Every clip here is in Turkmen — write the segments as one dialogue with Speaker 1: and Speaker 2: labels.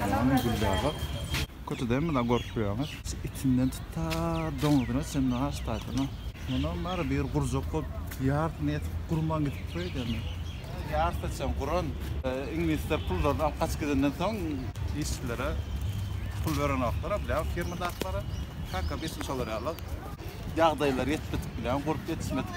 Speaker 1: Narwan Güllebak. Kötü däl mi la görüp bilýäňiz. Itinden tut ta doňuzyna çenli has taýsyna. Munam bary bir gurjak bolup ýarsyny ýetip gurman gidipdir öýdemi. Ýarysy çen guran. Iňlisler pullaryny alyp gaçyp gidenden soň işçilere pul berenoklar a bilýän firmadaklara. Kaka biz hem şolar ýaly. Ýagdaýlary ýetmedik bilýän gurup ýetişmedik.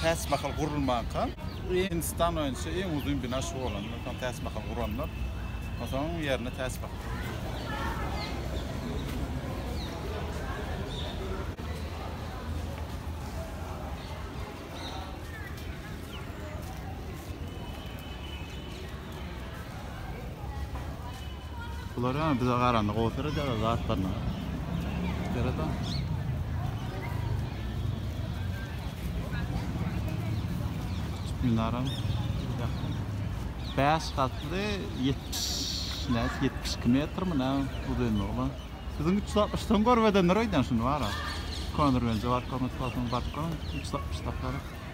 Speaker 1: Täç mahal gurulmanka, Hindistan boýunça iň uzyn bina şu bolandy. Onsoň täç mahal guranlar, onsoň onuň ýerine täç mahal Bular ýa bize garanda gowy seredýärler zatlaryna. Sereda. Minaram. Bäş gatly 70 näs 72 metr mi nä uzynlygy bolan. Siziň 360 soň görbedenler öýden şuny bara. Konur bence barkon tutsaň barkon 360 tapar.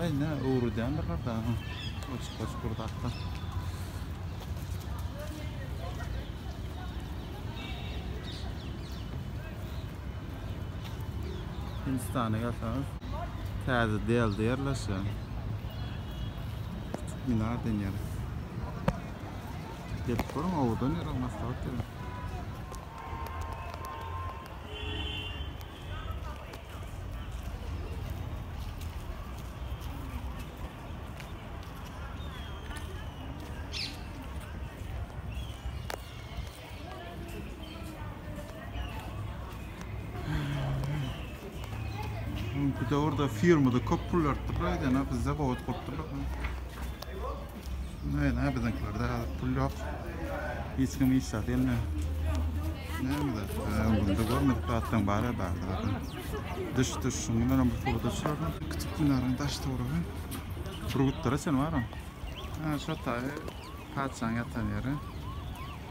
Speaker 1: Ay ne öwredýändir gada. Açyk açyk bir zatlar. Hindistana gelseňiz täze delde yerleşen. Küçük minar denýär. Gelip görüň, owadan ýer, maslahat berin. Bu da orada firmada köp pul beripdirler, ýa-da bizde gowat gurupdyrlar. Näme biziňkilerde hazır pul yok. Hiç kim hiç zat elme. Näme zat? Bunda görmedik zatdan bara bar zatdan. Dış dış şundan hem pul da çardı. Küçük binarın daş toruğu. Turgutlara sen var mı? Ha şu taýy paçan yatan yeri.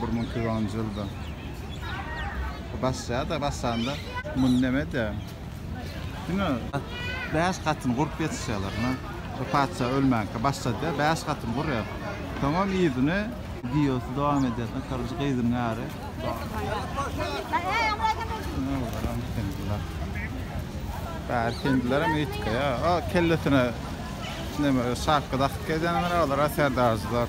Speaker 1: Bir müň iki ýüz onunjy ýylda basýar-da, basanda muny näme-de, diňe bäş gatyny gurup ýetişýärler. Ine, bu patyşa ölmänkä başlady-da, bäş gatyny gurýar. Soňam yzyny. Wideosy dowam edýär. Karoje, gyzyň äri. Bäri hindiler hem eýtge, ýa, o kellesine neme, şapka dakyp gezýänler, olar-a serdarjylar.